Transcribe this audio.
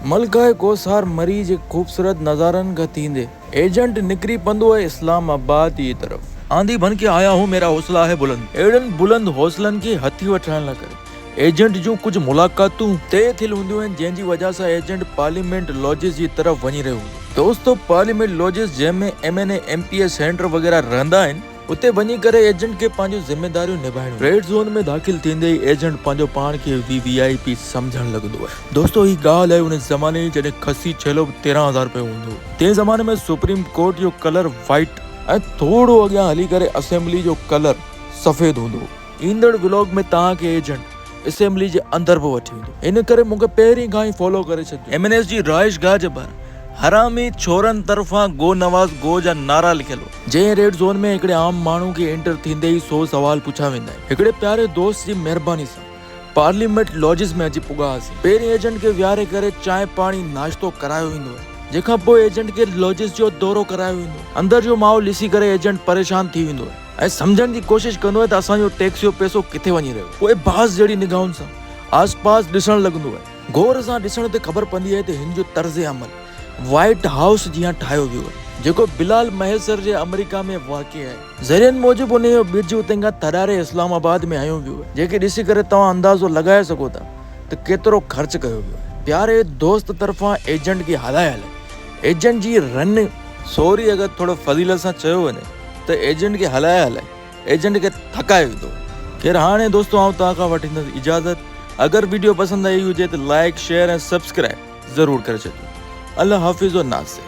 ملڪه ڪوسار مري جي خوبصورت نظارن کان ٿيندي. ايجنٽ نڪري پندو اهي اسلام آباد جي طرف. آندي بن ڪي آيا هون ميرا حوصلا هي بلند. اهڙن بلند حوصلن کي هٿي وٺرائڻ لاء ڪري ايجنٽ جون ڪجهه ملاقاتون. طئي ٿيل هونديون آهن جنهن جي وجهه سان ايجنٽ پارليامينٽ لاجز جي طرف وڃي رهيو هوندو. دوستو پارليامينٽ لاجز جنهن ۾ M N A M P A senator وغيره رهندا آهن. اتي وڃي ڪري ايجنٽ کي پنهنجون ذميداريون نڀائڻيون. ريڊ زون ۾ داخل ٿيندي ئي ايجنٽ پنهنجو پاڻ کي وي وي آء پي سمجهڻ لڳندو آهي. دوستو هي ڳالهه آهي ان زماني جي جڏهن کسي ڇيلو به تيرهن هزار رپيو هوندو هو. تنهن زماني ۾ سپريم ڪورٽ جو ڪلر وائيٽ. ۽ ٿورو اڳيان هلي ڪري اسيمبلي جو ڪلر سفيد هوندو هو. ايندڙ ولاگ ۾ توهان کي ايجنٽ اسيمبلي جي اندر به وٺي ويندو ان ڪري مون کي پهرين کان ئي فالو ڪري ڇڏجو. ايم اين ايس جي رهائش گاهه جي ٻاهر حرامي ڇورن طرفان گو نواز گو جا نعرا لکيل هئا. جنهن ريڊ زون ۾ هڪڙي عام ماڻهو کي انٽر ٿيندي ئي سو سوال پڇيا ويندا آهن. هڪڙي پياري دوست جي مهرباني سان پارليامينٽ لاجز ۾ اچي پڳا هئاسين. پهرين ايجنٽ کي ويهاري ڪري چانهه پاڻي ناشتو ڪرايو ويندو آهي جنهن کان پوء ايجنٽ کي لاجز جو دورو ڪرايو ويندو آهي. اندر جو ماحول ڏسي ڪري ايجنٽ پريشان ٿي ويندو آهي. ۽ سمجهڻ جي ڪوشش ڪندو آهي ته اسان جو ٽيڪس جو پئسو ڪٿي وڃي رهيو آهي. پوء باز جهڙي نگاهن سان آس پاس ڏسڻ لڳندو آهي. غور سان ڏسڻ تي خبر پوندي آهي ته هن جو طرز عمل وائيٽ هائوس جيان ٺاهيو ويو آهي. جيڪو بلال مهيسر جي آمريڪا ۾ واقع آهي. ذريعن موجب انهي جو ٻج اتي کان ٿڏاري اسلام آباد ۾ هنيو ويو آهي. جيڪي ڏسي ڪري توهان اندازو لڳائي سگهو ٿا ته ڪيترو خرچ ڪيو ويو آهي. پياري دوست طرفان ايجنٽ کي هلايل ايجنٽ جي رن. سوري اگر ٿورو فضيلت سان چيو وڃي. ته ايجنٽ کي هلائي هلائي ايجنٽ کي ٿڪائي وڌو. خير هاڻي دوستو آئون توهان کان وٺيندس اجازت اگر ويڊيو پسند آئي هجي ته لائيڪ شيئر ۽ سبسڪرائيب ضرور ڪري ڇڏجو الله حافظ و ناصر.